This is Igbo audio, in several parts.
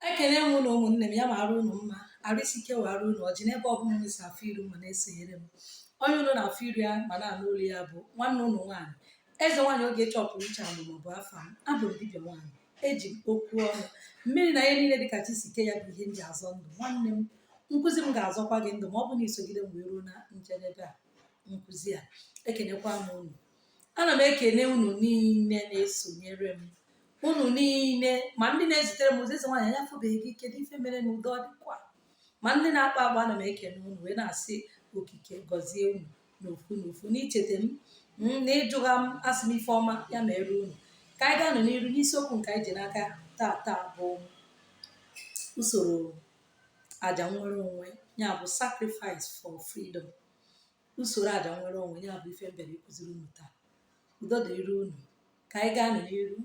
ekene m unu ụmụnne m ya maara unu mma arụ isi ike wee arụ unu ọjị n'ebe ọ bụla unu si afụ iru ma na-esonyere m onye unu na-afụ iru ya ma na-anụ olu ya bụ nwanne unu nwaanyị eze nwaanyị oge chọpụrụ uche alụ maọbụ afa m abụ m dibịa nwaanyị eji m okwu ọnụ mmiri na ihe niile dịka chi si ke ya bụ ihe m ji azọ ndụ nwanne m nkụzi m ga-azọkwa gị ndụ ma ọ bụ na i sogide m wee ruo na njedebe nkụzi a ekenekwa m unu ana m ekene unu niile na-esonyere m unu niile ma ndị na-ezitere m ozi eze nwaanyị anya fụbeghị gị kedu ife mere na udo dịkwa ma ndị na-akpọ akpọ ana m ekene unu wee na-asị okike gọzie unu n'ofu n'ofu n'icheta m mm, na ịjụ ọha m asị m ife ọma ya meere unu ka anyị gaa n'iru n'isiokwu nke anyị ji n'aka taa taa bụ usoro aja nnwere onwe ya bụ sacrifice for freedom usoro aja nnwere onwe ya bụ ife m bịara ịkụziri unu taa udo dịrị unu ka anyị gaa n'iru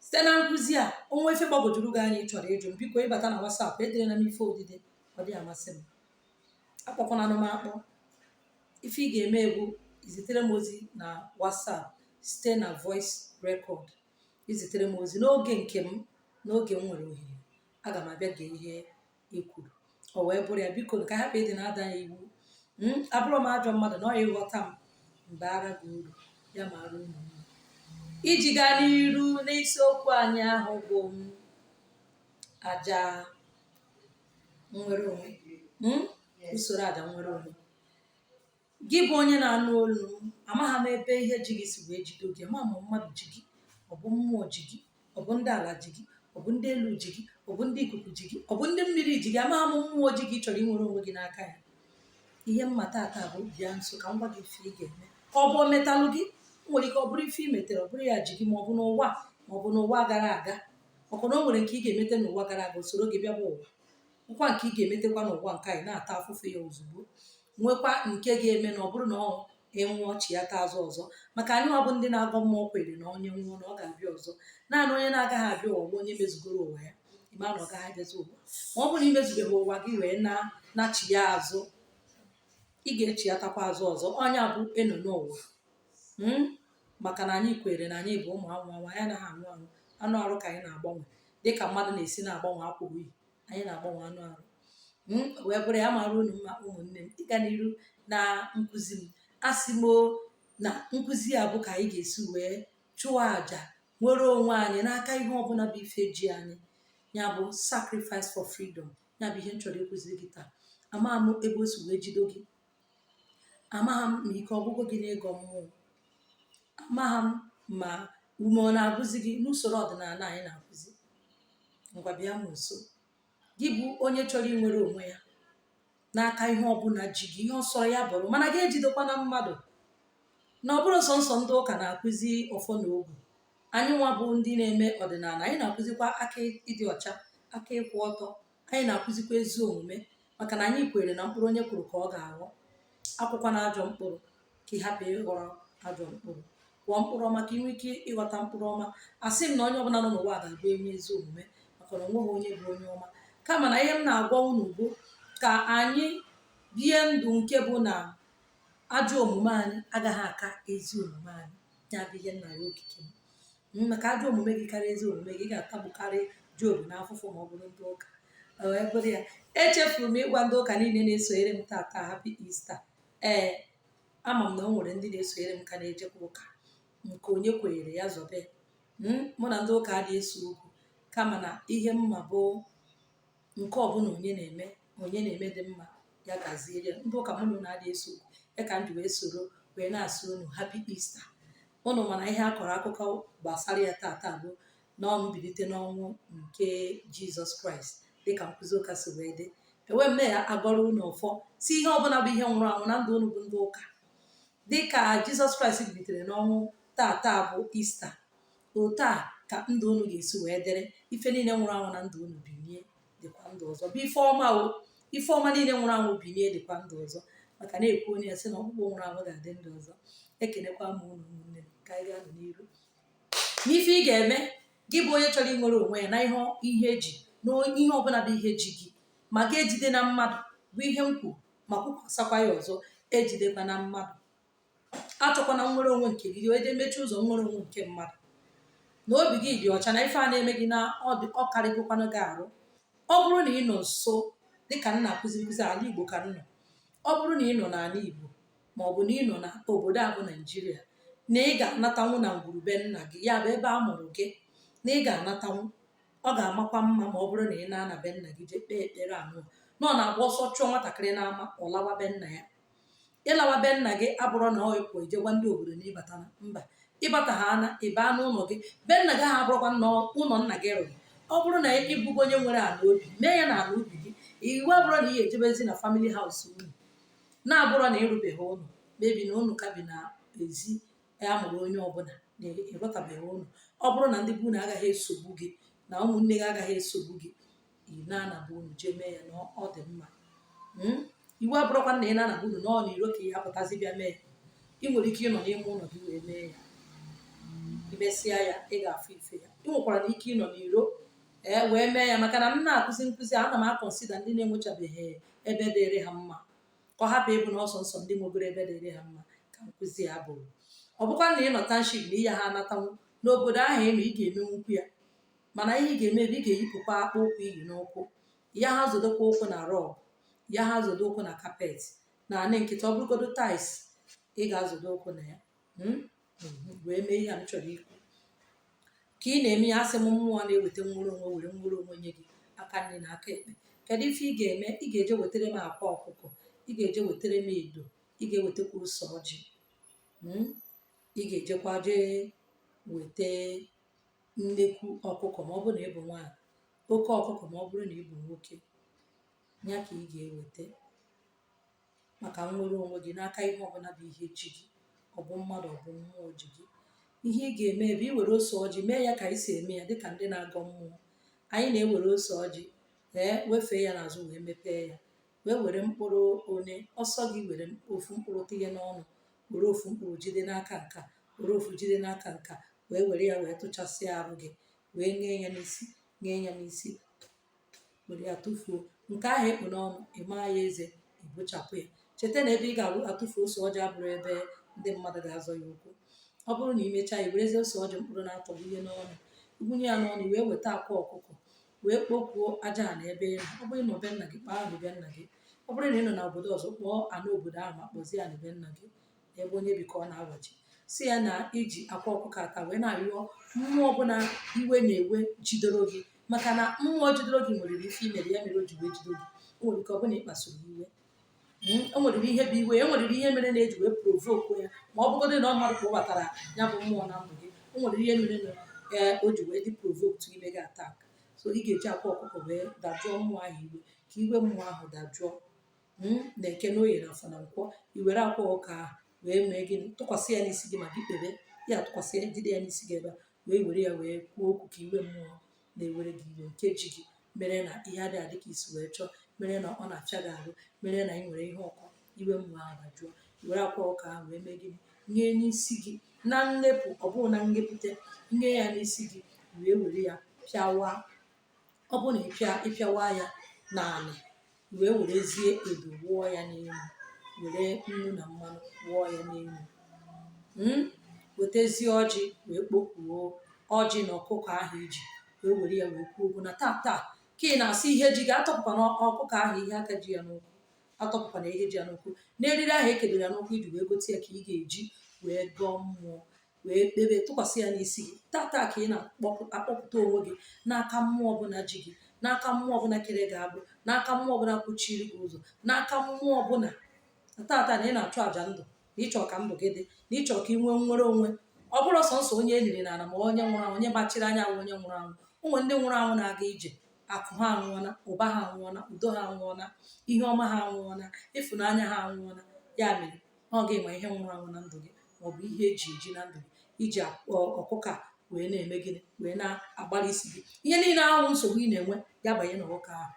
site na nkụzi a o nwee ife gbagwojuru gị anya ị chọrọ ịjụ m biko ị bata na WhatsApp ederena m ife odide ọ dị amasị m akpọkwana m akpọ ife ị ga-eme bụ izitere m ozi na WhatsApp site na voice record i zitere m ozi n'oge nke m n'oge m nwere ohere aga m abịa gee ihe i kwuru o wee bụrụ ya biko ka hapụ ịdị na-ada ya iwu Mm, abụrọ m ajọ mmadụ na ọ ya ị ghọta m m baara gị uru ya maara unu mma. iji gaa n'iru n'isiokwu anyị ahụ bụ mm, aja nnwere onwe Mm, usoro aja nnwere onwe gị bụ onye na-anụ olu m amaghị m ebe ihe ji gị si wee jido gị ma ma mmadụ ji gị ọ bụ mmụọ ji gị ọ bụ ndị ala ji gị ọ bụ ndị elu ji gị ọ bụ ndị ikuku ji gị ọ bụ ndị mmiri ji gị amaghị m mmụọ ji gị chọrọ inwere onwe gị n'aka ya ihe m ma tata bụ bịa nso ka m gwa gị ife ị ga-eme ka ọ bụ o metalụ gị o nwere ike ọ bụrụ ife i metere ọ bụrụ ya ji gị ma ọ bụ n'ụwa ma ọ bụ n'ụwa gara aga maka na o nwere nke ị ga-emete n'ụwa gara aga o soro gị bịa bụ ụwa nwekwa nke ị ga-emetekwa n'ụwa nke a ị na-ata afụfụ ya ozugbo nwekwa nke ị ga-eme na ọ bụrụ na ị nwụọ chighata azụ ọzọ maka anyị nwa bụ ndị na-agọ mmụọ kwere na onye nwụọ na ọ ga-abịa ọzọ naanị onye na-agaghị abịa ụwa bụ onye mezugoro ụwa ya ị ma na ọ gaghị abịazi ụwa ma ọ bụrụ na i mezubeghị ụwa gị wee naa nachigha azụ ị ga-echighatakwa azụ ọzọ ọ nya bụ ịnọ ụwa Mm? maka na anyị kwere na anyị bụ ụmụ anwụ anwụ anyị anaghị anwụ anwụ anụ arụ ka anyị na-agbanwe dịka mmadụ na-esi na-agbanwe akwa o yi anyị na-agbanwe anụ arụ hmm, wee bụrụ ya maara unu mma ụmụnne m ịga n'iru na nkụzi m asị m na nkụzi a bụ ka anyị ga-esi wee chụọ àjà nwere onwe anyị n'aka ihe ọbụla bụ ife ji anyị ya bụ sacrifice for freedom ya bụ ihe m chọrọ ịkụziri gị taa ama m ebe o si wee jido gị amaghị m ma ike ọ gwụgo gị n'ịgọ mmụọ amaghị m ma ume ọ na-agwụzi gị n'usoro ọdịnala anyị na-akụzi ngwa bịa m nso gị bụ onye chọrọ inwere onwe ya n'aka ihe ọbụla ji gị ihe ọ sọ ya bụrụ mana gị ejidekwana mmadụ na ọ bụrọ sọnsọ ndị ụka na-akụzi ọfọ na ogu anyị nwa bụ ndị na-eme ọdịnala anyị na-akụzikwa aka ịdị ọcha aka ịkwụ ọtọ anyị na-akụzikwa ezi omume maka na anyị kwere na mkpụrụ onye kụrụ ka ọ ga-aghọ akụkwana ajọ mkpụrụ ka ị hapụ ịghọrọ ajọ mkpụrụ kụọ mkpụrụ ọma ka ị nwee ike ịghọta mkpụrụ ọma asị m na onye ọbụla nọ n'ụwa ga-abụ onye ezi omume maka na onweghị onye bụ onye ọma kama na ihe m na-agwa unu bụ ka anyị bie ndụ nke bụ na ajọ omume anyị agaghị aka ezi omume anyị ya bụ ihe nna ya okike m maka ajọ omume gị karịa ezi omume gị ga-atagbukarị Job na afụfụ ma ọ bụrụ ndị ụka wee bụrụ ya echefuru m ịgwa ndị ụka niile na-esonyere m tata happy Easter ee ama m na o nwere ndị na-esonyere m ka na-ejekwa ụka nke onye kwenyere ya zọbe mụ na ndị ụka adịghị ese okwu kama na ihe m ma bụ nke ọbụla onye na-eme onye na-eme dị mma ya gaziere ya ndị ụka mụ na unu adịghị ese okwu ya ka m ji wee soro wee na-asị unu happy Easter unu mana ihe a kọrọ akụkọ gbasara ya tata bụ na ọ mbilite n'ọnwụ nke Jizọs Kraịst dịka nkụzi ụka si wee dị ewee m na-agọrọ unu ọfọ sị ihe ọbụla bụ ihe nwụrụ anwụ na ndụ unu bụ ndị ụka dịka Jizọs Kraịst bilitere n'ọnwụ tata bụ Easter otu a ka ndụ unu ga-esi wee dịrị ife niile nwụrụ anwụ na ndụ unu bilie dịkwa ndụ ọzọ bụ ife ọma o ife ọma niile nwụrụ anwụ bilie dịkwa ndụ ọzọ maka na-ekwu onye ya sị na ọkpụkpụ nwụrụ anwụ ga-adị ndụ ọzọ ekenekwa m unu ụmụnne m ka anyị gaa n'iru n'ife ị ga-eme gị bụ onye chọrọ inwere onwe ya na ihe ihe ji na ihe ọbụla bụ ihe ji gị ma gị ejidena mmadụ bụ ihe m kwuru ma kwukwasakwa ya ọzọ ejidekwana mmadụ achọkwana nnwere onwe nke gị wee jee mechie ụzọ nnwere onwe nke mmadụ na obi gị dị ọcha na ife a na-eme gị na ọ dị ọ karịgokwanụ gị arụ ọ bụrụ na ị nọ nso dịka m na-akụzi nkụzi ala igbo ka m nọ ọ bụrụ na ị nọ n'ala igbo ma ọ bụ na ị nọ na obodo a bụ naijiria na ị ga-anatanwu na ngwuru be nna gị ya bụ ebe a mụrụ gị na ị ga-anatanwu ọ ga-amakwa mma ma ọ bụrụ na ị na-ana be nna gị jee kpee ekpere anụ na ọ na-agba ọsọ chụọ nwatakịrị n'ama ọ lawa be nna ya ịlawa be nna gị abụrọ na ọ ịpụ ije gwa ndị obodo na ị batana mba ịbata ha ana ịba n'ụlọ gị be nna gị ahụ abụrọkwa na ụlọ nna gị rụrụ ọ bụrụ na ị bụgo onye nwere ala obi mee ya na ala obi gị iwu abụrọ na ị ga-ejebezi na family house unu na-abụrụ na ị rụbeghị ụlọ maybe na unu ka bi na ezi ya mụrụ onye ọbụla na ị rụtabeghị ụlọ ọ bụrụ na ndị be unu agaghị esogbu gị na ụmụnne gị agaghị esogbu gị ị na-anaba ụnọ jee mee ya na ọ- ọ dị mma Mm? iwu abụrụkwa na ị na-anaba ụnọ na ọ n'iro ka ị ya-apụtazi bịa mee ị nwere ike ịnọ n'ime ụlọ gị wee mee ya i mesịa ya ị ga-afụ ife ya ị nwekwara na ike ịnọ n'iro ee wee mee ya maka na m na-akụzi nkụzi ana m akọnsida ndị na-enwechabeghị ebe dịrị ha mma ka ọ hapụ ịbụ na ọ sọsọ ndị nwegoro ebe dịrị ha mma ka nkụzi ya bụrụ ọ bụkwa na ị nọ township na ị ya ha anatanwu n'obodo ahụ ị nọ ị ga-emenwukwu ya mana ihe ị ga-eme bụ ị ga-eyipụkwa akpụ ụkwụ i yi n'ụkwụ ya ha zodokwa ụkwụ na rọg ya ha zodo ụkwụ na kapet n'anị nkịtị ọ bụrụgodo tais ị ga-azodo ụkwụ na ya Mm? Mhm. wee mee ihe a m chọrọ ikwu ka ị na-eme ya asị m mmụọ na-eweta nnwere onwe were nnwere onwe nye gị aka nri na aka ekpe kedu ife ị ga-eme ị ga-eje wetara m akwa ọkụkọ ị ga-eje wetara m edo ị ga-ewetakwa ose ọjị Mm? ị ga-ejekwa jee weta nnekwu ọkụkọ ma ọ bụrụ na ị bụ nwaanyị oke ọkụkọ ma ọ bụrụ na ị bụ nwoke ya ka ị ga-eweta maka nnwere onwe gị n'aka ihe ọbụla bụ ihe ji gị ọ bụ mmadụ ọ bụ mmụọ ji gị ihe ị ga-eme bụ iwere ose ọjị mee ya ka anyị si eme ya dịka ndị na-agọ mmụọ anyị na-ewere ose ọjị ee wefee ya n'azụ wee mepee ya wee were mkpụrụ one ọ sọ gị were ofu mkpụrụ tinye n'ọnụ were ofu mkpụrụ jide n'aka nka were ofu jide n'aka nka wee were ya wee tụchasịa arụ gị wee nye ya n'isi nye ya n'isi were ya tụfuo nke ahụ i kpu n'ọnụ ị maa ya eze ị bụchapụ ya cheta na ebe ị ga-atụfu ose ọjị abụrụ ebe ndị mmadụ ga-azọ ya ụkwụ ọ bụrụ na i mechaa i werezi ose ọjị mkpụrụ n'atọ wunye n'ọnụ wunye ya n'ọnụ wee weta akwa ọkụkọ wee kpokuo aja ana ebe ị nọ ọ bụrụ na ọ be nna gị kpọọ anị be nna gị ọ bụrụ na ị nọ na obodo ọzọ kpọọ anị obodo ahụ ma kpọzie anị be nna gị ebe onye bi ka ọ na-awachi sị ya na i ji akwa ọkụkọ a taa wee na-arịọ mmụọ ọbụla iwe na-ewe jidoro gị maka na mmụọ jidoro gị nwere ife i mere ya mere o ji wee jido gị o nwere ike ọ bụ na ị kpasuru iwe Mm, o nwere ihe bụ iwe e nwere ihe mere na e ji wee provoku ya ma ọ bụgodị na ọ mmadụ kpọbatara ya bụ mmụọ na ndụ gị o nwere ihe mere na ee o ji wee dị provoked ime gị atak so ị ga-eji akwa ọkụkọ wee dajụọ mmụọ ahụ iwe ka iwe mmụọ ahụ dajụọ mm, na eke na oye na afọ na nkwọ i were akwa ọkụkọ ahụ wee mee gịnị tụkwasị ya n'isi gị ma gị kpebe ya tụkwasị ya jide ya n'isi gị ebe a wee were ya wee kwuo okwu ka iwe mmụọ na-ewere gị iwe nke ji gị mere na ihe adịghị adị ka i si wee chọọ mere na ọ na-afịa gị arụ mere na ị nwere ihe ụkọ iwe mmụọ ahụ dajụọ i were akwa ọkụkọ ahụ wee mee gịnị nye n'isi gị na nlepụ ọ bụghị na nlepụte nye ya n'isi gị wee were ya pịawa ọ bụrụ na ịpịa ịpịawa ya n'ala wee werezie edo wụọ ya n'elu were nnu na mmanụ wụọ ya n'elu Mm? wetezie ọjị wee kpokuo ọjị na ọkụkọ ahụ iji wee were ya wee kwuo okwu na taa taa ka ị na-asị ihe ji gị atọpụkwana ọkụkọ ahụ ihe aka ji ya n'ụkwụ atọpụkwana ihe ji ya n'ụkwụ n'eriri ahụ ekedoro ya n'ụkwụ iji wee gote ya ka ị ga-eji wee gọọ mmụọ wee kpebe tụkwasị ya n'isi gị tata ka ị na-akpọpụta onwe gị n'aka mmụọ ọbụla ji gị n'aka mmụọ ọbụla kere gị agbụ n'aka mmụọ ọbụla kwuchiri gị ụzọ n'aka mmụọ ọbụla tata na ị na-achụ àjà ndụ na ịchọ ka ndụ gị dị na ịchọ ka ị nwee nnwere onwe ọ bụrọ sọnsọ onye eliri na ala bụ onye nwụrụ anwụ onye gbachiri anya bụ onye nwụrụ anwụ o nwere ndị nwụrụ anwụ na-aga ije akụ ha anwụọla ụba ha anwụọla udo ha anwụọla ihe ọma ha anwụọla ịfụnanya ha anwụọla ya mere ọ gị ma ihe nwụrụ anwụ na ndụ gị ma ọ bụ ihe eji eji na ndụ gị iji ọkụkọ a wee na-eme gịnị wee na-agbara isi gị ihe niile ahụ nsogbu ị na-enwe ya banye na ọkụkọ ahụ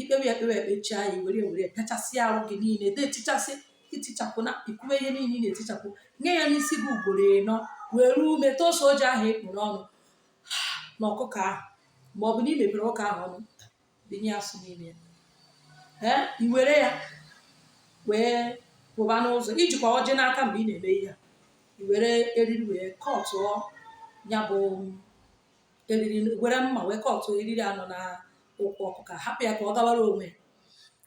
ikpewe ya ekpere ikpechaa ya were were pịachasị ahụ gị niile de etichasị itichapụ na ikwuwe ihe niile ị na-etichapụ nye ya n'isi gị ugboro ịnọ were ume tosa ọjị ahụ ị kpụ n'ọnụ na ọkụkọ ahụ ma ọ bụ na ị mepere ọkụkọ ahụ ọnụ bụnye asụ n'ime ya ee i were ya wee pụba n'ụzọ ijikwa ọjị n'aka mgbe ị na-eme ihe a i were eriri wee kọtụọ ya bụ eriri were mma wee kọtụọ eriri a nọ na ụkwụ ọkụkọ hapụ ya ka ọ gawara onwe ya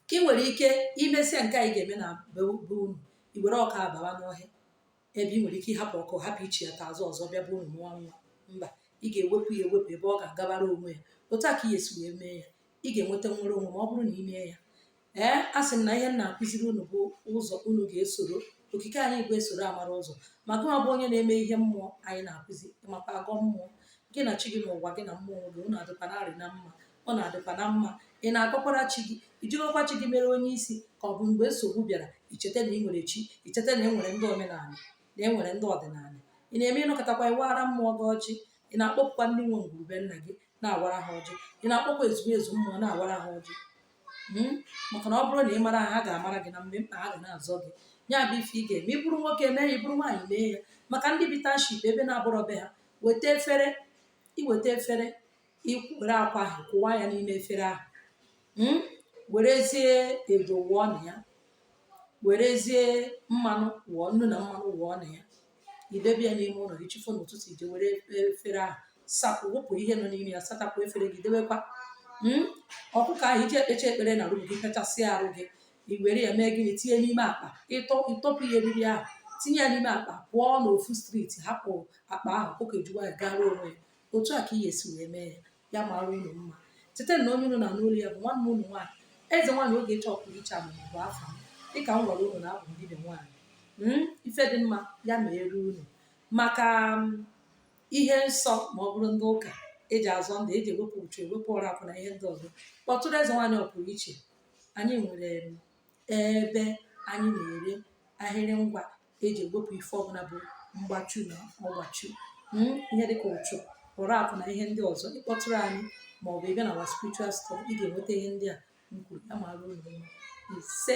ka ị nwere ike imesịa nke a ị ga-eme na be be unu i were ọkụkọ bawa n'ọhịa ebe ị nwere ike ịhapụ ọkụkọ hapụ ichighata azụ ọzọ bịa be unu mụọ nwa mba ị ga-ewepụ ya ewepụ ebe ọ ga-agabara onwe ya otu a ka ị ga-esi wee mee ya ị ga-enweta nnwere onwe ma ọ bụrụ na ị mee ya ee a sị m na ihe m na-akụziri unu bụ ụzọ unu ga-esoro okike anyị bụ esoro amara ụzọ ma gị nwa bụ onye na-eme ihe mmụọ anyị na-akụzi maka agọ mmụọ gị na chi gị na ụwa gị na mmụọ gị unu adịkwa narị na mma ọ na-adịkwa na mma ị na-agọkwara chi gị ijirikwa chi gị mere onye isi ka ọ bụ mgbe nsogbu bịara icheta na ị nwere chi icheta na e nwere ndị omenala na e nwere ndị ọdịnala ị na-eme ịnọkọtakwa ịwara mmụọ gị ọjị ị na-akpọkukwa ndị nwe ngwurube nna gị na-awara ha ọjị ị na-akpọkwa ezumezu mmụọ na-awara ha ọjị hmm? maka na ọ bụrụ na ị mara ha ha ga-amara gị na mgbe mkpa ha ga na-azọ gị ya bụ ife ị ga-eme ị bụrụ nwoke mee ya ị bụrụ nwaanyị mee ya maka ndị bi township ebe na-abụrọ be ha weta efere iweta efere i were akwa ahụ kụwa ya n'ime efere ahụ mm? werezie edo wụọ na ya werezie mmanụ wụọ nnu na mmanụ wụọ na ya idebe ya n'ime ụlọ gị chi fo n'ụtụtụ ije were efere ahụ sapụ wepụ ihe nọ n'ime ya sachapụ efere gị debekwa mm? ọkụkọ ahụ iji ekpecha ekpere na arụ gị pịachasị arụ gị i were ya mee gịnị tinye n'ime akpa ịtọ ịtọpụ ihe eriri ahụ tinye ya n'ime akpa pụọ n'ofu street hapụ akpa ahụ ọkụkọ ejuwa ya gara onwe ya otu a ka ị ga-esi wee mee ya ya mara unu mma cheta na onye unu na-anụ olu ya bụ nwanne unu nwaanyị eze nwaanyị Ogechi ọpụrụ iche one bụ afa m dịka m gwara unu na abụ m dibịa nwaanyị Mm, ife dị mma ya meeru unu maka mm, ihe nsọ ma ọ bụrụ ndị ụka eji azọ ndụ eji ewepụ uchu ewepụ ụra akụ na ihe ndị ọzọ kpọtụrụ eze nwaanyị ọpụrụ iche anyị nwere mm, ebe anyị na-ere ahịrị ngwa eji ewepụ ife ọbụla bụ mgbachu na ọgbachu mm, ihe dịka uchu ụra akụ na ihe ndị ọzọ ị kpọtụrụ anyị ma ọ bụ ị bịa na our spiritual store ị ga-enweta ihe ndị a m kwuru ya mara unu ise